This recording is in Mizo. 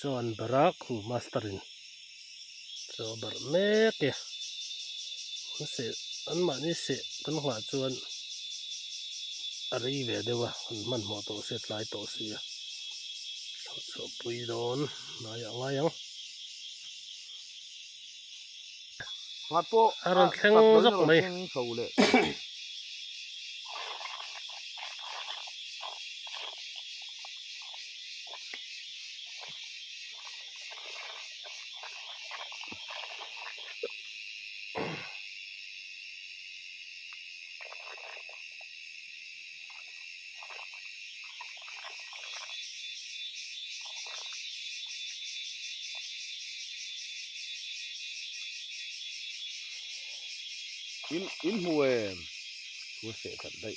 chuan barak khu master in. Chaw barh mek e. An seh anmahni seh kan nghah chuan a rei ve deuh a, kan hmanhmawh tawh se tlai tawh si a. Chhuahpui dawn hnaiah a ngai ang. A rawn thleng zawk mai. in in mu em thu seh that daih.